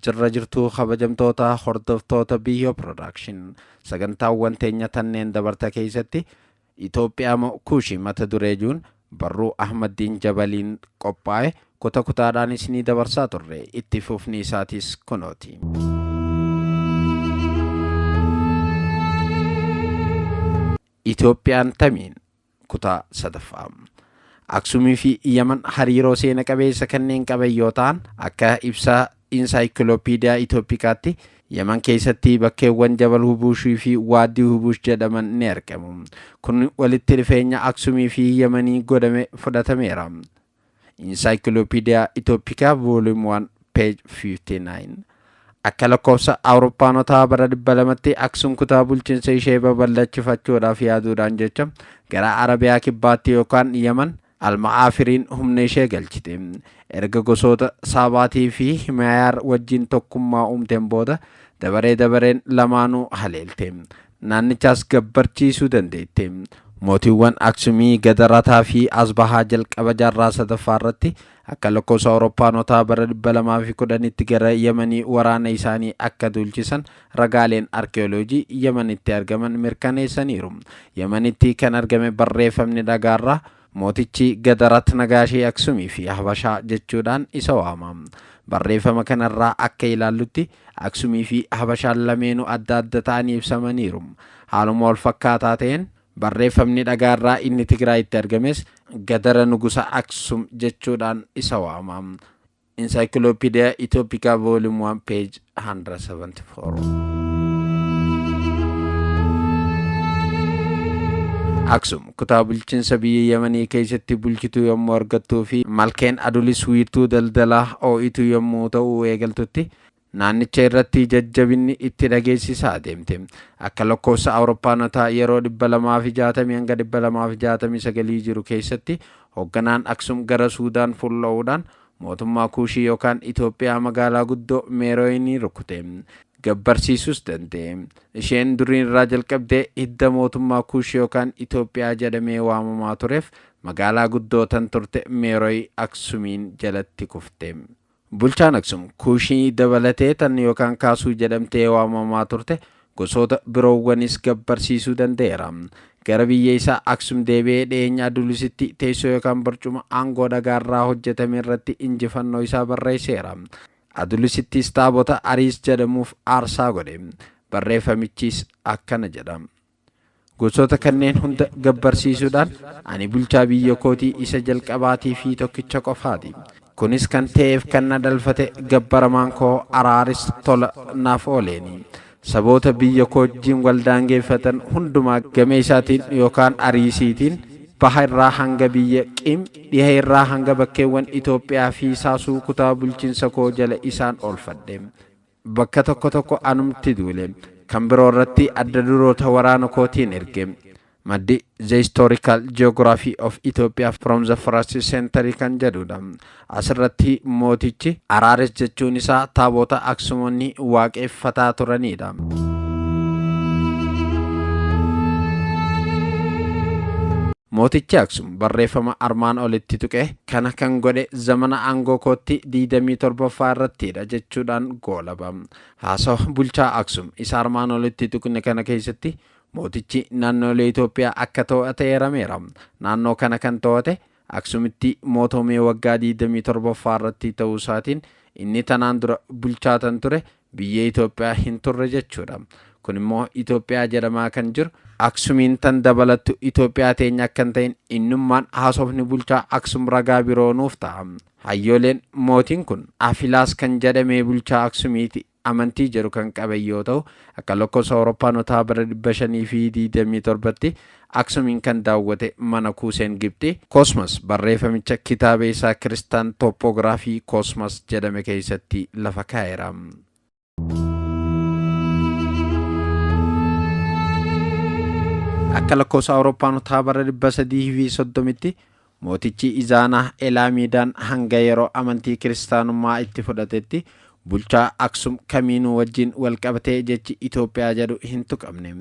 jirra jirtuu kabajamtoota hordoftoota biyyoo piroodakshin sagantaawwan teenya tanneen dabarta keessatti Itoophiyaa moo kuushii mata duree juun barruu Ahmaddiin Jabaliin qophaa'e kuta kutaadhaan isinii dabarsaa turre itti fufni isaatis kunooti. Itoophiyaan tamiin? Kutaa 3ffaa. Aksumii fi Yaman hariiroo seena qabeessa kanneen qaban yoo ta'an, akka ibsa Insaayikilopiidiyaa Itoopikaatti, Yaman keessatti bakkeewwan Jabal Hubuushii fi Waaddii Hubuush jedhaman ni argamu. Kun walitti dhufeenya Aksumii fi Yamanii godhame fudhatameera. Encyclopedia Ethiopica Volume 1 page 59 Akka lakkoofsa Awuroppaanotaa bara 200tti Aksum kutaa bulchiinsa ishee babal'achifachuudhaaf yaaduudhaan jecha gara Arabiyaa kibbaatti yookaan Yaman Alma'aafiriin humna ishee galchite. Erga gosoota Saabaatii fi Himayaar wajjin tokkummaa uumteen booda dabaree dabareen lamaanuu haleelte. naannichaas gabbarchiisuu dandeette. Mootiiwwan Aksumii, Gadarataa fi Asbahaa jalqaba jaarraa 3ffaa irratti akka lakkoofsa Awuroppaanotaa bara 210tti gara Yamanii waraana isaanii akka duulchisan ragaaleen arkiyooloojii Yamanitti argaman mirkaneessaniiru. Yamanitti kan argame barreeffamni dhagaarraa Mootichi Gadarat Nagaashii Aksumii fi Habashaa jechuudhaan isa waama. Barreeffama kanarraa akka ilaallutti Aksumii fi Habashaan lameenuu adda adda ta'anii ibsamaniiru. Haaluma walfakkaataa ta'een barreeffamni dhagaarraa inni Tigraayitti argames Gadara Nugusa Aksum jechuudhaan isa waama. Encyclopedia Ethiopica Volume 1 page 174. Aksum kutaa bulchiinsa biyya Yamanii keessatti bulchituu yommuu argattuu fi malkeen adulis wiirtuu daldalaa oo'ituu yommuu ta'u eegaltutti naannicha irratti jajjabinni itti dhageessisaa deemte. Akka lakkoofsa Awuroppaanotaa yeroo 260-269 jiru keessatti hoogganaan Aksum gara Suudaan fulla'uudhaan mootummaa Kuushii yookaan Itoophiyaa magaalaa guddoo Meerooyinii rukute. Gabbarsiisuus danda'e. Isheen duriin irraa jalqabdee hidda mootummaa Kuush yookaan Itoophiyaa jedhamee waamamaa tureef magaalaa guddoo tan turte Meerooyi Aksumiin jalatti kufte. Bulchaan Aksum, Kuushii dabalatee tan yookaan Kaasuu jedhamtee waamamaa turte gosoota biroowwanis gabbarsiisuu danda'eera. Gara biyya isaa Aksum deebi'ee dhiyeenya Adulusitti teessoo yookaan barcuma aangoo dhagaarraa hojjetame irratti injifannoo isaa barreesseera. Adulusittis taabota Ariis jedhamuuf aarsaa godhe. Barreeffamichis akkana jedha. Gosoota kanneen hunda gabbarsiisuudhaan ani bulchaa biyya kootii isa jalqabaatii fi tokkicha qofaati. Kunis kan ta'eef kan na dhalfate gabbaramaan koo Araaris tola naaf ooleeni. Saboota biyya koo wajjin wal daangeeffatan hundumaa gamee isaatiin yookaan Ariisiitiin baha irraa hanga biyya Qim, dhiha irraa hanga bakkeewwan Itoophiyaa fi Saasuu kutaa bulchinsa koo jala isaan oolfadhe. Bakka tokko tokko anumti duule. Kan biroo irratti adda duroota waraana kootiin erge. Maddi The Historical Geography of Ethiopia from the First Century kan jedhudha. Asirratti mootichi Araares jechuun isaa taaboota Aksumonni waaqeffataa turanidha. Mootichi Aksum barreeffama armaan olitti tuqee Kana kan godhe zamana aangoo kootti 27ffaa irrattiidha jechuudhaan goolaba. Haasawa bulchaa Aksum isa armaan olitti tuqne kana keessatti mootichi naannoolee Itoophiyaa akka too'ate eerameera. Naannoo kana kan too'ate Aksumitti mootoomee waggaa 27ffaa irratti ta'uu isaatiin inni tanaan dura bulchaa tan ture Biyya Itoophiyaa hin turre jechuudha. Kun immoo Itoophiyaa jedhamaa kan jiru. Aksumiin tan dabalattu Itoophiyaa teenya akka hin ta'in innummaan haasofni bulchaa Aksum ragaa biroo nuuf ta'a. Hayyooleen mootiin kun Afilaas kan jedhamee bulchaa Aksumiiti amantii jedhu kan qaben yoo ta'u, akka lakkoofsa Awuroppaanotaa bara 527tti Aksumiin kan daawwate mana kuuseen Gibxii, Cosmas, barreefamicha kitaaba isaa Kiristaan Topography Cosmas jedhame keessatti lafa kaa'eera. Akka lakkoofsa Awurooppaanotaa bara 330tti Mootichi Izaanaa Elaamiidaan hanga yeroo amantii kiristaanummaa itti fudhatetti bulchaa Aksum kamiinuu wajjin wal qabatee jechi Itoophiyaa jedhu hin tuqamne.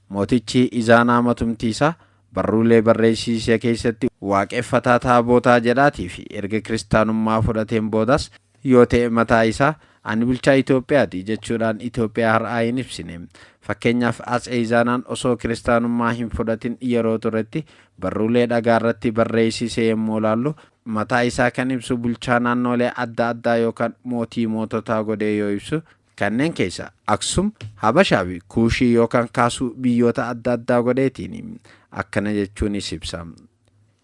Mootichi Izaanaa matumtiisaa barruulee barreessiise keessatti waaqeffataa taabootaa jedhaatiifi erga kiristaanummaa fudhateen boodas yoo ta'e mataa isaa Ani bulchaa Itoophiyaati jechuudhaan Itoophiyaa har'aa hin ibsine. Fakkeenyaaf Atsee Izaanaan osoo kiristaanummaa hin fudhatin yeroo turetti barruulee dhagaarratti barreessise yommuu ilaallu mataa isaa kan ibsu bulchaa naannoolee adda addaa yookaan mootii moototaa godhee yoo ibsu kanneen keessa Aksum, Habashaa fi Kuushii yookaan kaasuu biyyoota adda addaa godheetiini. Akkana jechuunis ibsa.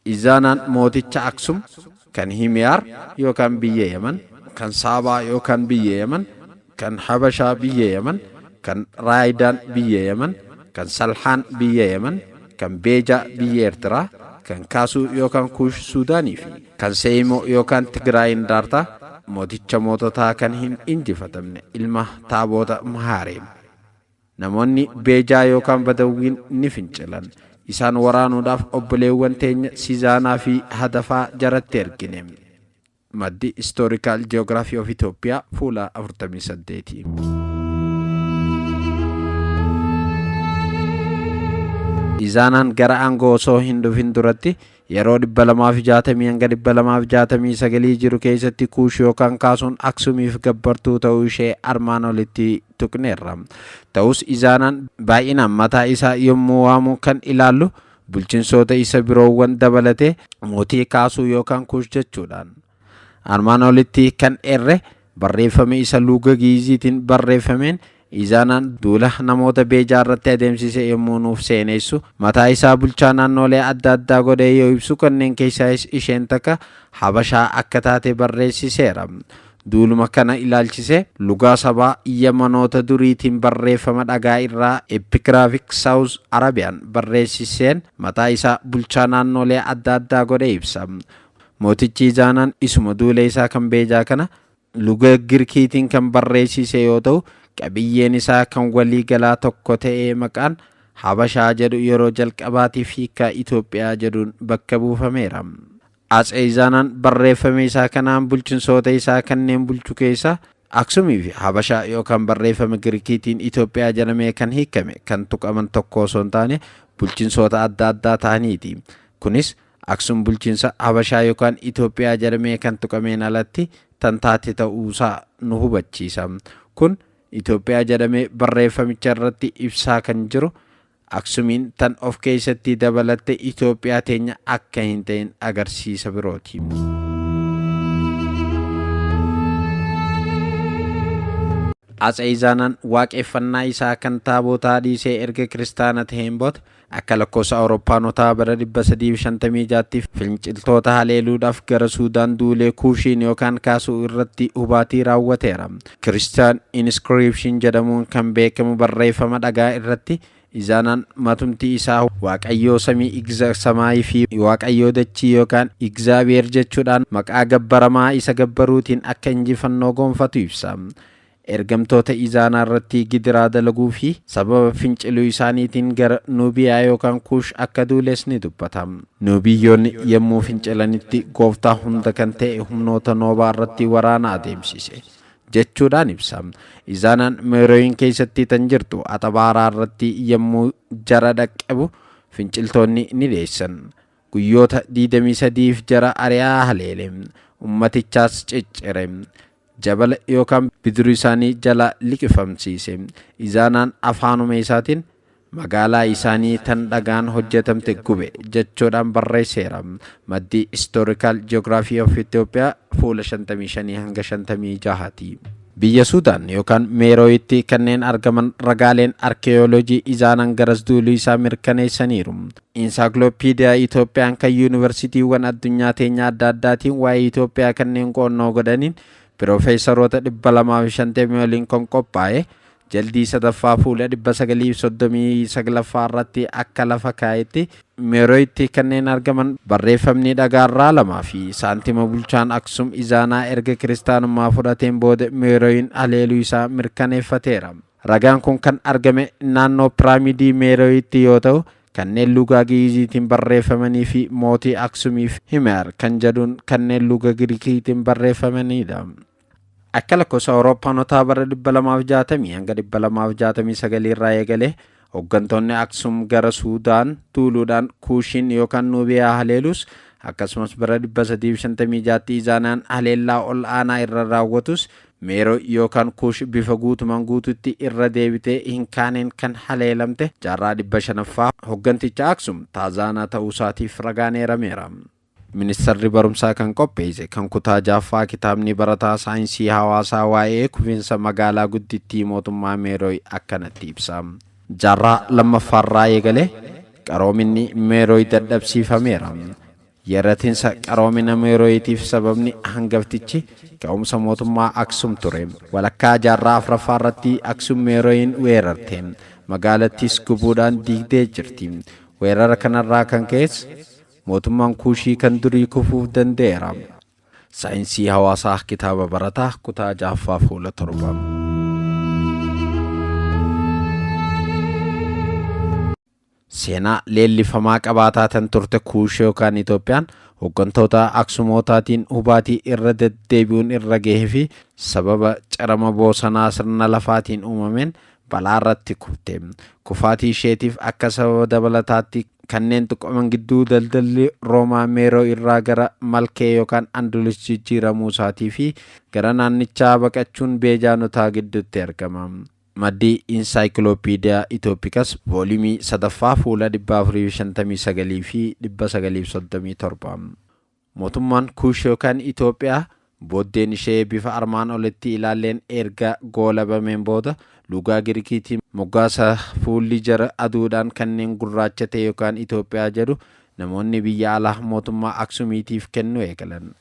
Izaanaan mooticha Aksum, kan Himiyaar yookaan biyya Yaman, kan Saabaa yookaan biyya Yaman, kan Habashaa biyya Yaman, kan Raaydaan biyya Yaman, kan Salhaan biyya Yaman, kan Beejaa biyya Ertiraa, kan Kaasuu yookaan Kuush Suudaanii fi kan Seeyimoo yookaan Tigiraayiin Daartaa, mooticha moototaa kan hin injifatamne, ilma Taaboota Mahaareem. Namoonni Beejaa yookaan Badawwiin ni fincilan. Isaan waraanuudhaaf obboleewwan teenya Sizaanaa fi Hadafaa jaratti ergine. Maddi Historical Geography of Ethiopia fuula 48. Izaanaan gara aangoo osoo hin dhufin duratti Yeroo 260-269 jiru keessatti Kuush yookaan Kaasuun Aksumiif gabbartuu ta'uu ishee armaan olitti tuqneerra. Ta'us Izaanaan baay'inaan mataa isaa yommuu waamu kan ilaallu bulchinsoota isa biroowwan dabalatee mootii Kaasuu yookaan Kuush jechuudhaan. Armaan olitti kan eerre barreeffama isa luuga Gi'iziitiin barreeffameen Iizaanaan duula namoota Beejaa irratti adeemsise yommuu nuuf seeneessu mataa isaa bulchaa naannoolee adda addaa godhee yoo ibsu kanneen keessaayis isheen takka Habashaa akka taate barreessiseera. Duuluma kana ilaalchise lugaa sabaa Yamanoota duriitiin barreeffama dhagaa irraa Epicrafic South Arabian barreessiseen mataa isaa bulchaa naannoolee adda addaa godhee ibsa. Mootichi Izaanaan isuma duula isaa kan Beejaa kana luga Girkiitiin kan barreessiise yoo ta'u, qabiyyeen isaa kan walii galaa tokko ta'ee maqaan Habashaa jedhu yeroo jalqabaatiif hiikkaa Itoophiyaa jedhuun bakka buufameera. Atsee Izaanaan barreeffame isaa kanaan bulchinsoota isaa kanneen bulchu keessaa Aksumii fi Habashaa yookaan barreeffama Girikiitiin Itoophiyaa jedhamee kan hiikkame kan tuqaman tokko osoo hin taane bulchinsoota adda addaa ta'aniiti. Kunis Aksum bulchiinsa Habashaa yookaan Itoophiyaa jedhamee kan tuqameen alatti tan taate ta'uusaa nu hubachiisa. Kun Itoophiyaa jedhamee barreeffamicha irratti ibsaa kan jiru Aksumiin tan of keessatti dabalatte Itoophiyaa teenya akka hin ta'in agarsiisa birooti. Atse Izaanaan waaqeffannaa isaa kan taabootaa dhiisee erga kiristaana ta'een booda Akka lakkoofsa Awurooppaanotaa bara 356tti finciltoota haleeluudhaaf gara Suudaan duulee Kuushiin yookaan Kaasuu irratti hubaatii raawwateera. Christian Inscription jedhamuun kan beekamu barreeffama dhagaa irratti Izaanaan matumti isaa Waaqayyoo samii Igza Samaay fi Waaqayyoo dachii yookaan Igzaabiheer jechuudhaan maqaa gabbaramaa isa gabbaruutiin akka injifannoo goonfatu ibsa. Ergamtoota Izaanaa irratti gidiraa dalaguu fi sababa finciluu isaaniitiin gara Nuubiyaa yookaan Kuush akka duules ni dubbata. Nuubiyyoonni yommuu fincilanitti gooftaa hunda kan ta'e humnoota Noobaa irratti waraana adeemsise. jechuudhaan ibsa. Izaanaan Meerooyin keessatti tan jirtu Axabaaraa irratti yommuu jara dhaqqabu finciltoonni ni dheessan. Guyyoota 23f jara ari'aa haleele. Ummatichaas ciccire. jabala yookaan bidiruu isaanii jalaa liqifamsiise. Izaanaan afaanuma isaatiin Magaalaa isaanii tan dhagaan hojjatamte gube jechuudhaan barreesseera. Maddi Historical Geography of Ethiopia fuula 55-56 ti. Biyya Suudaan yookaan Meerooyitti kanneen argaman ragaaleen arkeeyooloojii Izaanaan garas duuluu isaa mirkaneessaniiru. Insaakloopiidiyaa Itoophiyaan kan Yuunivarsiitiiwwan addunyaa teenya adda addaatiin waa'ee Itoophiyaa kanneen qo'annoo godhaniin Piroofeesaroota 250 oliin kan qophaa'e jaldii sadaffaa fuula 939ffaa irratti akka lafa kaa'etti Meerooyitti kanneen argaman barreeffamni dhagaarraa lamaa fi saantima bulchaan Aksum Izaanaa erga kiristaanummaa fudhateen booda Meerooyin haleeluu isaa mirkaneeffateera. Ragaan kun kan argame naannoo piraamidii Meeroyitti yoo ta'u, kanneen luugaa Gi'iiziitiin barreeffamanii fi mootii Aksumiif Himer kan jedhuun kanneen luuga Girikiitiin barreeffamanidha. Akka lakkoofsa Awurooppaanotaa bara 260 hanga 269 irraa eegalee Hoggantoonni Aksum gara Suudaan duuluudhaan Kuushiin yookaan Nuubiyaa haleelus, akkasumas bara 356tti Izaanaan haleellaa ol aanaa irra raawwatus, Meeroo yookaan Kuush bifa guutumaan guutuutti irra deebitee hin kaaneen kan haleelamte jaarraa 500ffaa hogganticha Aksum Taazaanaa ta'uusaatiif ragaan eerameera. Ministarri Barumsaa kan qopheesse kan kutaa ja'affaa kitaabni barataa saayinsii hawaasaa waa'ee kufinsa magaalaa guddittii mootummaa Meerooy akkanatti ibsa. Jaarraa lammaffaarraa eegalee qaroominni Meerooy dadhabsiifameera. Yerratinsa qaroomina Meerooyitiif sababni hangaftichi ka'umsa mootummaa Aksum ture. Walakkaa jaarraa afraffaarratti Aksum Meerooyin weerarte. Magaalattiis gubuudhaan diigdee jirti. Weerara kanarraa kan ka'es Mootummaan Kuushii kan durii kufuuf danda'eera. Saayinsii Hawaasaa Kitaaba Barataa Kutaa 6ffaa Fuula 7. Seenaa leellifamaa qabaataa tan turte Kuush yookaan Itoophiyaan hooggantoota Aksumootaatiin hubaatii irra deddeebi'uun irra gahee fi sababa cirama boosanaa sirna lafaatiin uumameen balaa irratti kufte. Kufaatii isheetiif akka sababa dabalataatti Kanneen tuqaman gidduu daldalli Roomaa Meeroo irraa gara Malkee yookaan Andulus jijjiiramuu isaatii fi gara naannichaa baqachuun Beejaanotaa gidduutti argama. Maddi Encyclopedia Ethiopikas vooliyumii 3ffaa fuula 459 fi 937. Mootummaan Kuush yookaan Itoophiyaa booddeen ishee bifa armaan olitti ilaalleen erga goolabameen booda lugaa Girikiitiin moggaasa fuulli jara aduudhaan kanneen gurraacha ta'e yookaan Itoophiyaa jedhu namoonni biyya alaa mootummaa Aksumiitiif kennuu eegalan.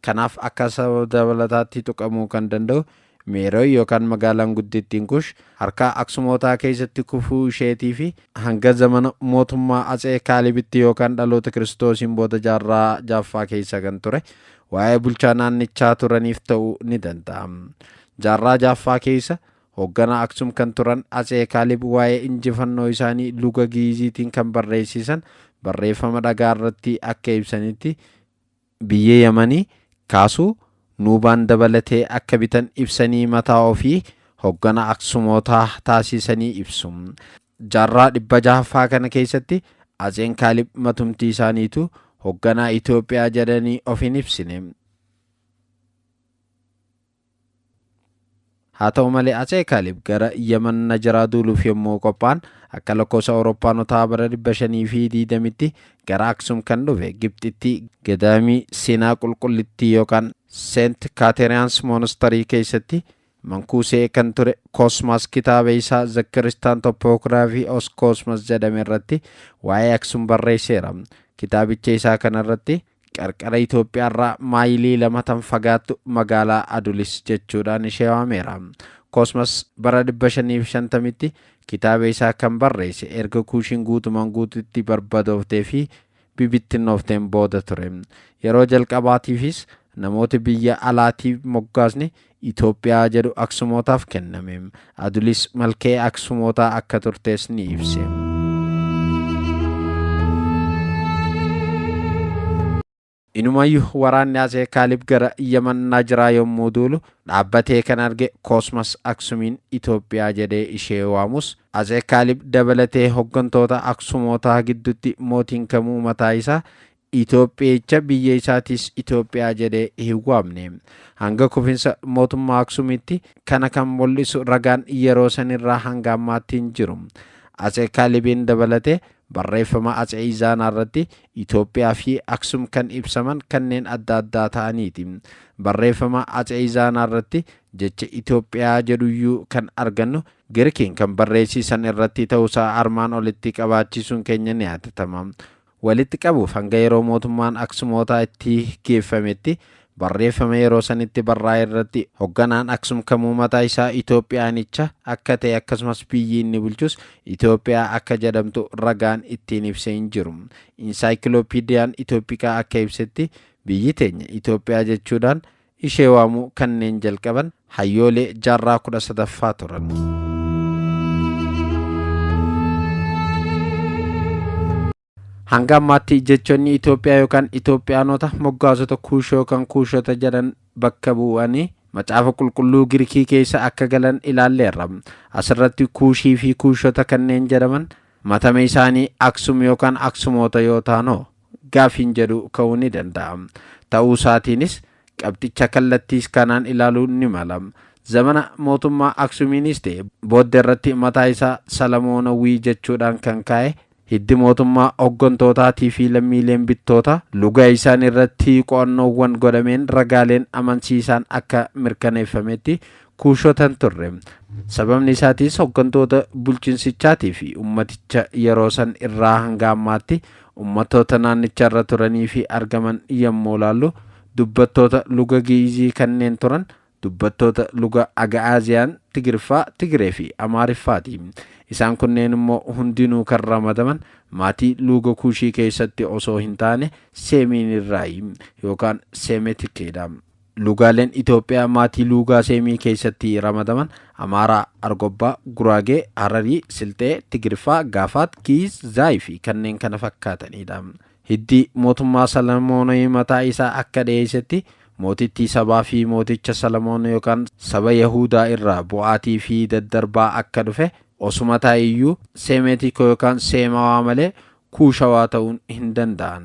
Kanaaf akka sababa dabalataatti tuqamuu kan danda'u Meerooy yookaan magaalaan guddittiin Kush harka Aksumootaa keessatti kufuu isheetii fi hanga zamana mootummaa Atsee Kaalibitti yookaan dhaloota Kiristoosiin booda jaarraa ja'affaa keessa kan ture waa'ee bulchaa naannichaa turaniif ta'uu ni danda'a. Jaarraa ja'affaa keessa hoogganaa Aksum kan turan Atsee Kaalib waa'ee injifannoo isaanii luga Gi'iiziitiin kan barreessisan barreeffama dhagaa irratti akka ibsanitti biyyee Yamani kaasu Nuubaan dabalatee akka bitan ibsanii mataa ofii hoggana Aksumootaa taasiisanii ibsu. Jaarraa 600ffaa kana keessatti Atseen Kaalib matumti isaaniitu hogganaa Itoophiyaa jedhanii of hin ibsine. Haa ta'u malee Atsee Kaalib gara Yaman Najaraa duuluuf yommuu qophaa'an akka lakkoofsa Awurooppaanotaa bara 520tti gara Aksum kan dhufe Gibxitti gadaamii seenaa qulqullittii yookaan Seent Kaateriyaans Moonastarii keessatti mankuusee kan ture Koosmaas kitaaba isaa The Christian Topography of Cosmas jedhame irratti waa'ee Aksum barreesseera. Kitaabicha isaa kanarratti Qarqara Itoophiyaarraa maayilii lama tan fagaattu magaalaa Adulis jechuudhaan ishee waameera. Cosmas bara 550tti kitaaba isaa kan barreesse erga Kuushiin guutumaan guututti barbadooftee fi bibittinnoofteen booda ture. Yeroo jalqabaatiifis namooti biyya alaatii moggaasni Itoophiyaa jedhu Aksumootaaf kenname. Adulis malkee Aksumootaa akka turtees ni ibse. Inumayyu waraanni Atsee Kaalib gara Yaman Najiraa yommuu duulu dhaabbatee kan arge Koosmas Aksumiin Itoophiyaa jedhee ishee waamus Atsee Kaalib dabalatee hoggantoota Aksumootaa gidduutti mootiin kamuu mataa isaa Itoophiyicha biyya isaatiis Itoophiyaa jedhee hin waamne. Hanga kufinsa mootummaa Aksumitti kana kan mul'isu ragaan yeroo sanirraa hanga ammaatti hin jiru. Atse Kaalibiin dabalatee barreeffama Atse Izaanaarratti Itoophiyaafi Aksum kan ibsaman kanneen adda addaa ta'aniiti. Barreeffama Atse Izaanaarratti jecha Itoophiyaa jedhuyyuu kan argannu Girikiin kan barreessiisan irratti ta'uusaa armaan olitti qabaachisuun keenya ni yaadatama. walitti qabuuf hanga yeroo mootummaan Aksumootaa itti geeffametti barreeffama yeroo sanitti barraa'e irratti hogganaan Aksum kamuu mataa isaa Itoophiyaanicha akka ta'e akkasumas biyyi inni bulchus Itoophiyaa akka jedhamtu ragaan ittiin ibse hin jiru. Insaayikilooppiidiyaan Itoophikaa akka ibsetti biyyi teenya Itoophiyaa jechuudhaan ishee waamuu kanneen jalqaban hayyoolee jaarraa 13ffaa turan. Hanga ammaatti jechoonni Itoophiyaa yookaan Itoophiyaanota moggaasota Kuush yookaan Kuushota jedhan bakka bu'anii Macaafa Qulqulluu Girikii keessa akka galan ilaalleerra. Asirratti Kuushii fi Kuushota kanneen jedhaman matame isaanii Aksum yookaan Aksumoota yoo taanoo gaafiin jedhu ka'uu ni danda'a. Ta'uu isaatiinis qabxicha kallattiis kanaan ilaaluu ni mala. Zamana mootummaa Aksumiinis ta'e boodde irratti mataa isaa Salamoonawwii jechuudhaan kan kaa'e hiddi mootummaa hoggantootaatii fi lammiileen bittoota luga isaanii irratti qo'annoowwan godhameen ragaaleen amansiisaan akka mirkaneeffametti Kuushota hin turre. Sababni isaatis hoggantoota bulchinsichaatii fi ummaticha yeroo san irraa hanga ammaatti ummattoota naannicha irra turanii fi argaman yommuu ilaallu dubbattoota luga Gi'izii kanneen turan dubbattoota luga Aga'aaziyaan, Tigriffaa, Tigiree fi Amaariffaati. Isaan kunneen immoo hundinuu kan ramadaman maatii luuga Kuushii keessatti osoo hin taane Seemiin irraayi yookaan Seemetikeedha. Luugaaleen Itoophiyaa maatii luugaa Seemii keessatti ramadaman, Amaaraa, Argobbaa, Guraagee, Hararii, Silxee, Tigiriffaa, Gaafaat, Giiz, Zaay fi kanneen kana fakkaataniidha. Hiddi mootummaa Salamoonii mataa isaa akka dhiyeessetti mootittii sabaa fi mooticha Salamoon yookaan saba Yahuudaa irraa bu'aatii fi daddarbaa akka dhufe osuma ta'e iyyuu Seemeetikoo yookaan Seemawaa malee Kuushawaa ta'uun hin danda'an.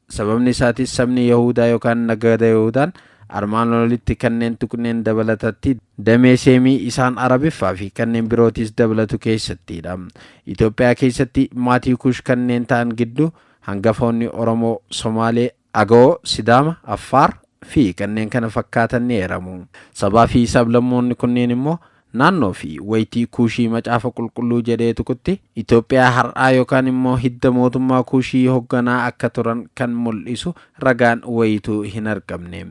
Sababni isaatis sabni Yahuudaa yookaan nagada Yahuudaan armaan olitti kanneen tuqneen dabalatatti damee Seemii isaan Arabiffaa fi kanneen birootis dabalatu keessattiidha. Itoophiyaa keessatti maatii Kuush kanneen ta'an gidduu hangafoonni Oromoo, Somaalee, Agawoo, Sidaama, Affaar, fi kanneen kana fakkaatan ni eeramu. Sabaa fi sablammoonni kunneen immoo Naannoo fi waytii Kuushii Macaafa Qulqulluu jedhee tuqutti Itoophiyaa har'aa yookaan immoo hidda mootummaa Kuushii hogganaa akka turan kan mul'isu ragaan wayiitu hin argamne.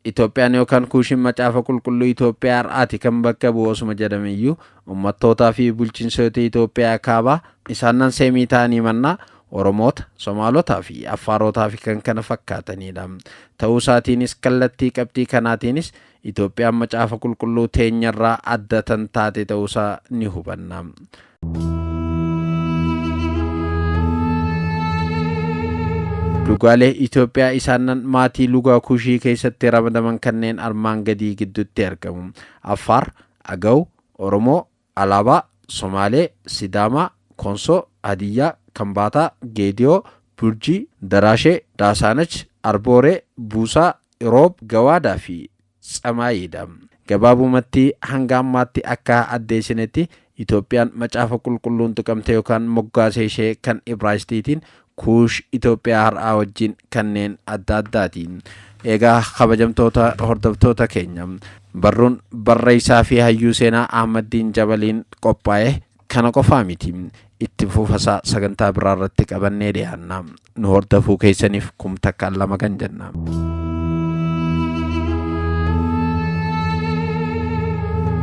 Itoophiyaan yookaan Kuushiin Macaafa Qulqulluu Itoophiyaa har'aati kan bakka bu'u osuma jedhame iyyuu, ummattootaa fi bulchinsoota Itoophiyaa kaabaa, isaan nan Seemii ta'anii mannaa, Oromoota, Somaalotaa fi Affaarootaa fi kan kana fakkaataniidha. Ta'uu isaatiinis kallattii qabxii kanaatiinis Itoophiyaan Macaafa Qulqulluu teenyarraa adda tan taate ta'uusaa ni hubanna. Lugaalee Itoophiyaa isaannan maatii lugaa kushii keessatti ramadaman kanneen armaan gadii gidduutti argamu. Affaar, Agaw, Oromoo, Alaabaa, Somaalee, Sidaamaa, Konsoo, Hadiyyaa, Kambaataa, Geediyoo, Burjii, Daraashee, Daasaanach, Arbooree, Buusaa, Iroob, Gawaadaa fi Tsamaayii dha. Gabaabumatti hanga ammaatti akka addeessinetti Itoophiyaan Macaafa Qulqulluun tuqamte yookaan moggaasee ishee kan Ibraayistiitiin Kuush Itoophiyaa har'aa wajjin kanneen adda addaati. Eegaa kabajamtoota hordoftoota keenya barruun barreessaa fi hayyuu seenaa Ahmaddiin Jabaliin qophaa'e kana qofaa miti. Itti fufasaa sagantaa biraa irratti qabannee dhiyaanna. Nu hordofuu keessaniif kum takkaan lama kan jenna.